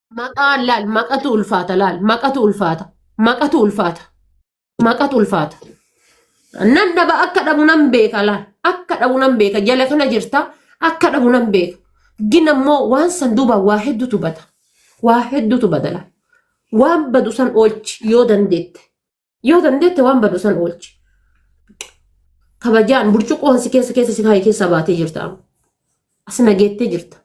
Maqaa laal maqatu ulfaata laal maqatu ulfaata maqatu ulfaata maqatu ulfaata. Nan dhaba akka dhabu nan beeka laal akka dhabu nan beeka jala kana jirta akka dhabu nan beeka. Gin ammoo waan san duuba waa hedduutu bada waa hedduutu bada laal waan badu san oolchi yoo dandeette yoo dandeette waan badu san oolchi. Kabajaan burcuqqoon si keessa keessa si kaa'e keessa baatee jirta amma. As nageettee jirta.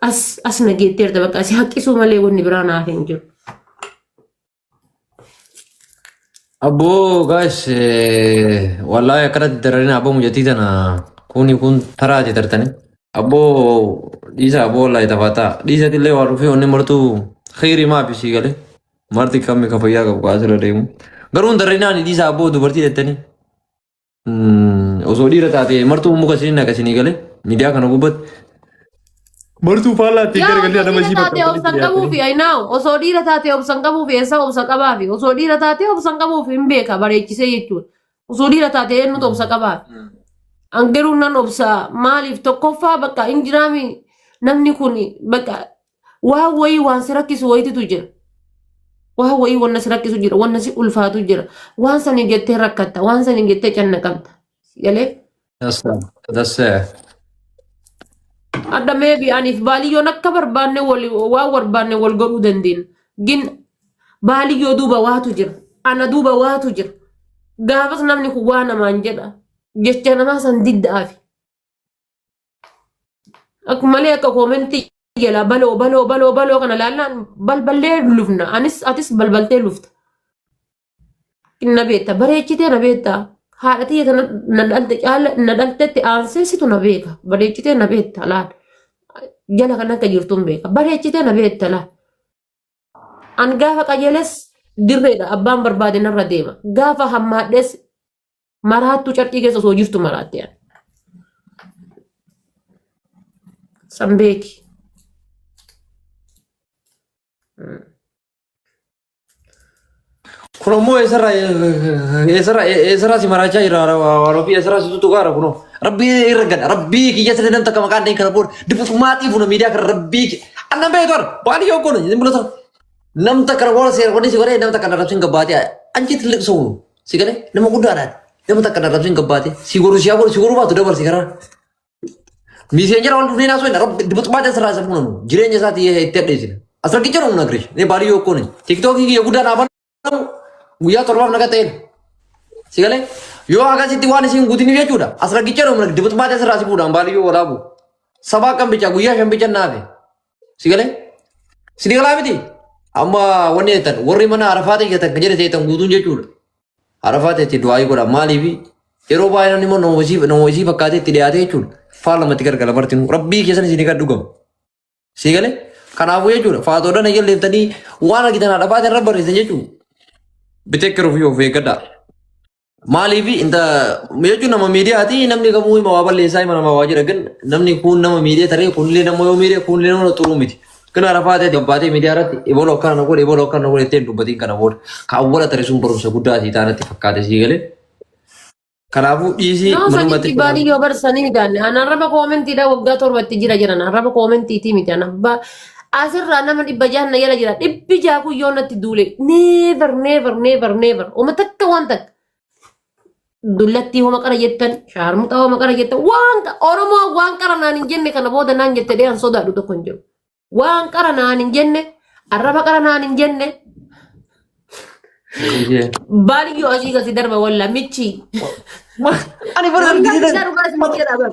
As as na geetteerta bakka si haqqisuu malee wanni biraa naaf hin jiru. Abboo gaas wallaahi akkanatti dararina abboo mucatii tana kuni kun taraati tartani. Abboo dhiisa abboo wallaahi taphataa dhiisati illee waa dhufee onni martuu kheyri maafi sii galee marti kammi ka fayyaa qabu kaasirra deemu. Garuu hin dararinaani dhiisa abboo dubartii jettanii. Osoo dhiira taate martuu muka isin naqa isinii galee miidiyaa kana gubbatti. Martuu faallaa itti Yaa garagalee osoo nama dhiira taatee obsan qabuufi I know. Osoo dhiira taatee obsan qabuufi eessa obsa qabaafi. Osoo dhiira taatee obsan qabuufi hin beeka bareechisee jechuudha. Osoo dhiira taatee eenyutu obsa qabaafi. An garuu nan obsa maaliif tokkoffaa bakka hin jiraami namni kun bakka Waa wayii waan si rakkisu wayititu jira. Waa wayii wanna si rakkisu jira, wanna si ulfaatu jira. Waan saniin jettee rakkatta, waan saniin jettee cannaqamta. Si galee? That's uh, that's uh, Adda meebi aniif baaliyyoon akka barbaanne wal waan barbaanne wal godhuu dandeenya. Gin baaliyyoo duuba waatu jira. Ana duuba waatu jira. Gaafas namni kun waa namaan jedha. Jecha namaa san diddaafi. Akka malee akka koomentii jala baloo baloo baloo baloo kana laallaan balballee lufna. Anis atis balbaltee lufta. Na beekta bareechitee na beekta. Haadha tiyya tana na dhalte caala na dhaltetti aansee situ na beeka. Bareechitee na beekta laal. Jala kan akka jirtu hin beeka. Bareechitee na beekta laal. An gaafa qajeeles dirreedha abbaan barbaade narra deema. Gaafa hammaadhes Maraattuu carqii keessa osoo jirtu maraatte ani. San beeki. Kun ammoo eessarraa eessarraa eessarraa si maraachaa jira waan ofii eessarraa si tuttu gaara kunoo. Rabbii irra gada rabbii kiyya sirrii namni takka maqaan dheen kana booda dibbutumaa xiifuna miidiyaa kana rabbii kiyya. Anna beeku arra waan yoo goone hin mul'atu. Nam takka na booda seera godhee si godhee nam takka na rabsiin gabbaatee anjiitti liqsuun. Si galee nama guddaadhaan nama takka darabsiin gabbaate si goru si hagoru si goru baatu dabarsi karaa. Miiseen jara wal dhufnee naasoo hin rabbi dubbatumaa ta'e sirraa isa fuunanu jireenya isaati itti addeessina. As rakki jedhu humna girish ni baalii yoo kooni tiktookii kiyya guddaa naaf alamu guyyaa torbaaf naga ta'een. Si galee yoo akkasitti waan isin guutin jechuudha as rakki jedhu humna dubbatumaa ta'e sirraa si fuudhaan baalii yoo waraabu. Sabaa kan bichaa guyyaa shan bichaa naafe. Si galee? Si ni galaa miti? Amma wanni jettan warri mana arafaa ta'e jettan kan jedhe ta'etan guutuun jechuudha. Arafaa ta'etti du'aayii godha maaliif? Yeroo baay'ee namni immoo nama isii nama isii fakkaatee itti dhiyaate jechuudha. Faal lamatti gargala martinuu rabbii keessan isin kan dhugamu. Si galee? Kanaafuu jechuudha faatoodhaan eegalleeftanii waan argitan haadha faatiin irra barreessan jechuudha. Bitekkeruuf yoo of eeggadhaa. Maaliif inta jechuun nama miidiyaati namni kamuu hima waa balleessaa hima namaa waa jira gan namni kun nama miidiyee taree kunillee nama yoo miidiyee kunillee nama xuruu miti. Kan arafaa ta'e gabbaatee miidiyaa irratti ebaloo akkana na godhe ebaloo akkana na godhe ittiin dubbatiin kana booda ka awwala tare sun barumsa guddaa sii taanatti fakkaate sii galee. Kanaafuu dhiisii Nama manumatti sanitti baadii yoo barsanii miidhaan. An arraba koomentiidha waggaa torbatti jira jiran. Arraba koomentiitii miti. An abbaa Asirraa nama dhibba jahan na jala jira. Dhibbi jaha kun yoo natti duule never never never never homa takka waan takka. Dullattii homa qara jettan shaarmuxaa homa qara jettan waan qa- Oromoo waan qara naan hin jenne kana booda naan jette dhee an sodaadhu tokko hin jiru. Waan qara naan hin jenne arraba qara naan hin jenne baaliyyoo asii gasi darba walla michii. Ani bara Wallaahi argisiisan. isaa dhugaa isin jedha bara.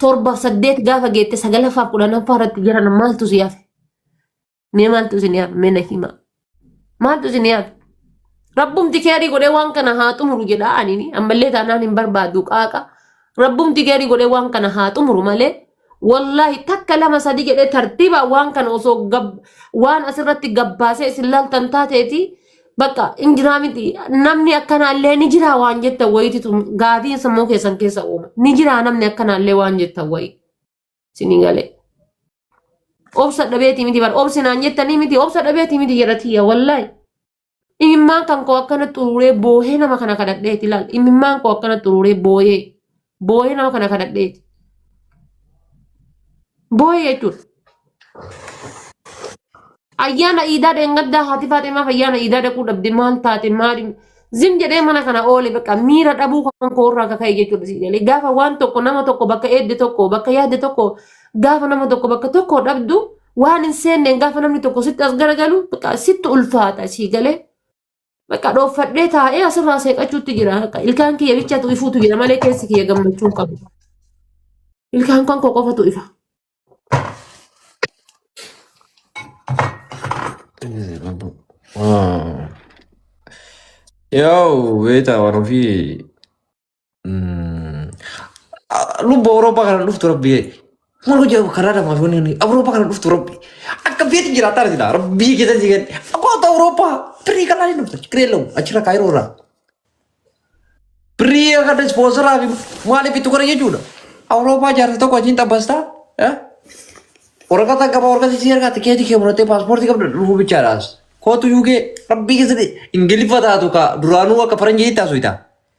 torbaaf saddeet gaafa geette sagalaffaaf kudhanaffaa irratti jiran maaltu si hafe? Mee maaltu isin hafe? Mee na hima. Maaltu isin hafe? Rabbumti keerii godhee waan kana haa xumuru jedha ani ammallee taanaan hin barbaadu qaaqa. Rabbumti keerii godhee waan kana haa xumuru malee wallaahi takka lama sadi jedhee tartiibaan waan kana osoo gab- waan asirratti gabbaasee isin laaltan taateeti Bakka hin jiraa miti. Namni akkanaallee ni jiraa waan jettan wayititu gaafii sammuu keessan keessa uuma. Ni jiraa namni akkanaallee waan jettan wayi. Sinii galee. Obsa dhabeetii miti bara. Obsi naan jettanii miti. Obsa dhabeetii miti jedha tiyya wallaahi. Imimmaan kan koo akkana xuruuree boohee nama kana kadhadheeti laal. Imimmaan koo akkana xuruuree booyee. booyee nama kana kadhadheeti. Booyee jechuudha. Ayyaana iidaa dheengaddaa haati Faaximaaf ayyaana iidaa dhaquu dhabde maal taate maali zim jedhee mana kana oole bakka miira dhabuu kan koo irraa kaka'e jechuudha si jedhee gaafa waan tokko nama tokko bakka eedde tokko bakka yaadde tokko gaafa nama tokko bakka tokko dhabdu waan hin seenneen gaafa namni tokko sitti as garagalu bakka sitti ulfaata si galee Bakka dhooffadhee taa'ee asirraa seeqachuutti jira. Bakka Ilkaan kiyya bichatu ifuutu jira malee keessi kiyya gammachuu hin qabu. Ilkaan kan koo qofatu ifa. Yoo beektaa waan ofii Lubbu Awurooppaa kana dhuftu rabbi. Maal hojii karaa lamaa fi wanni Awurooppaa kana dhuftu rabbi. Akka feeti jiraataa argina rabbii keessa si gadi. Akoota Awurooppaa firii kanaa hin dhuftu kiree lamu achirra kaayiroo irraa. Firii akka dispoonsaraa fi maaliif itti godha jechuudha. Awurooppaa jaarsa tokko achiin xabbastaa. Waraqata qaba waraqata si ergaa tikeetii kee muratee paaspoortii qabda dhufuu bichaadhaas. Kootu yuugee rabbii keessatti ingiliffa taatu ka duraanuu akka faranjii taasuu ta'a.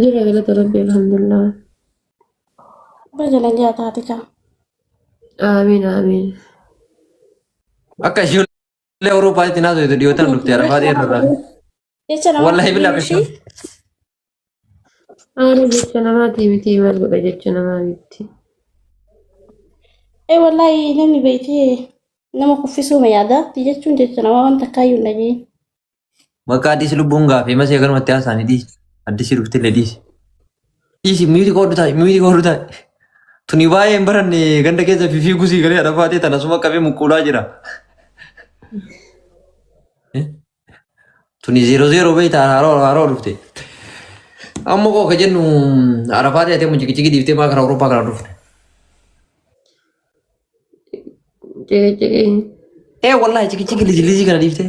Jira galata rabbii alhamdulillah. Bajala jaa taate kaa. Aamiin aamiin. Akka ishii illee Awuroopaatti naasoo itti dhiyootan dhufte arafaa dheerra irraa. Jecha nama Wallahi bilaa qabdi qashoo. ishii. Aara jecha namaatii miti maal godha jecha namaa miti. Ee wallahi namni beektee nama kuffisuuma yaadaatti jechuun jecha nama wanta akkaayyuu hin dhageenye. Maqaa dhiisi lubbuun gaafee masii akkanumatti haasaanii dhiisi. Addisii dhufte illee dhiisi. Dhiisi miiti koodhu taa'i miiti koodhu taa'i. Tuni baay'ee hin baranne ganda keessa fifii gusii galee adhafaatee tana suma qabee muquulaa jira. Tuni zeero zeero beekta haroo haroo dhufte. Amma koo ka jennu arafaatee atee mucikiciki dhiiftee maa karaa Awurooppaa kana dhufte. Ciqiiciqii. Ee wallaahi cikiciki liji liji kana dhiiftee.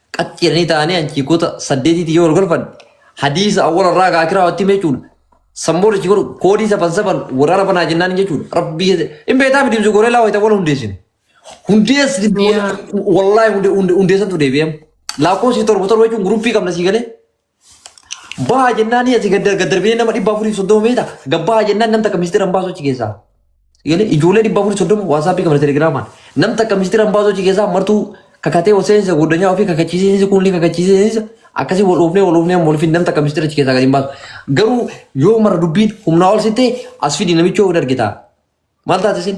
qat jedhanii ta'anii achii goota saddeetiitti yoo wal golfan hadiisa awwala irraa gaa akiraa watti hime jechuudha. Sammuun achi godhu koodii safan safan waraana banaa jennaan jechuudha. Rabbii keessa hin beektaa miti ibsu gooree laa wayita wal hundeessinu. Hundeessi Yaa. wallaahi hunde- hunde- hundeessantu deebi'eem. Lakkoofsi torba torba jechuun guruppii qabna sii galee Baha jennaan asii gad gad darbinee nama dhibba afurii soddoma beekta. Gabbaha jennaan nam takka miistira hin baasu achi keessaa. Yaani ijoollee dhibba afurii soddoma waasaappii qabna telegiraamaan. Nam takka miistira hin baasu achi keessaa martuu kakatee ol seensa goddanyaa ofii kakachiisiinsa kun ni kakachiisiinsa akkasii wal oofnee wal oofnee amma olfin nam takka miistira achi keessaa gad hin baasu. Garuu yoo mara dubbiin humnaa ol sittee as fidi namichoo hin argitaa. Maal taate isin?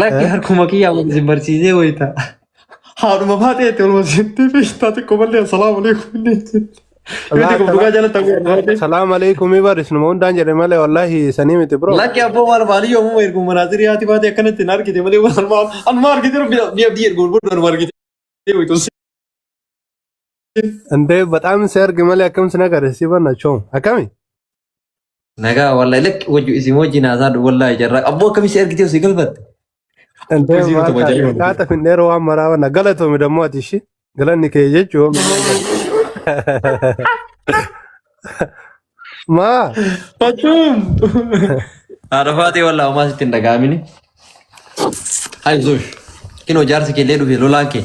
Lakki Eh? harkuma kiyyaa wal isin barsiisee wayita. Haadhuma baatee itti olma seentee feestaa xiqqoo malee assalaamu alaikum inni jechuudha. Yoo ta'e kun dhugaa jalatti haguugu baatee. Salaam alaikum ibar isinuma hundaan jedhe malee wallaahi sanii miti bro. Lakki abboo maal maalii yoomuma ergu manaazirii haati baatee akkanatti hin argite malee waan maal amma argite rabbi biyya biyya ergu booda nama argite. Wayita ol Indee bataam si arge malee akkam si nagare si banna choom akkami? Nagaa wallahi lakki wajju isin wajjin haasaa dhu wallahi jarraa qabboo akkamii si ergitee si galfatte. Antee Isii maal utuma taate jaa'ima. kaata finneera waan maraa wana galatoomi dammoo ati ishii galanni kee jechuun maa Fachuun. Haadha faatee wallahi homaa sitti hin dhaga'amini. Hayi zuush. Kinoo jaarsi kee illee dhufe lolaan kee.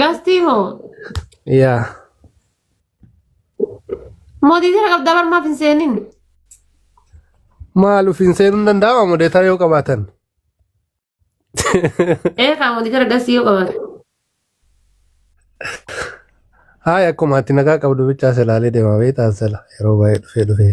Gastii hoo? Yaa. Mootii jira qabdaa barmaaf hin seenin. Maal ofiin seenuu hin danda'ama modeetaa yoo qabaatan. Ee kaa mootii jira gastii yoo qabaate. Haaya akkuma ati nagaa qabdu bichaa silaalee deema beektaa sila yeroo baay'ee dhufee dhufee.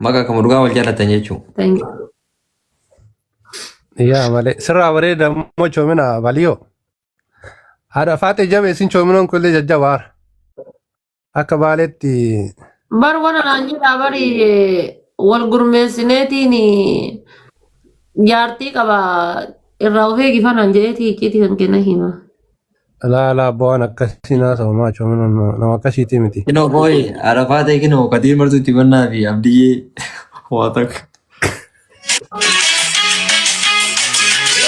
Maqa akkuma dhugaa wal jaallattan jechuu. Thank you. Yaa malee sirraa bareeda immoo coomina baliyoo. Haadha faaxee jabe isin coominoon kun illee jajjabaa akka baaleetti Bar wana naan jedhaa bari wal gurmeessineetiin jaartii qaba irraa of eegi fanaan jedheeti icciitii kan kenna hima. Alaa alaa abbaa waan akkasii naa ta'u maa choo mana nama akkasiitii miti. Kinoo qooyi arafaa ta'e kinoo kadir martuu itti bannaa fi abdiyyee waa takka.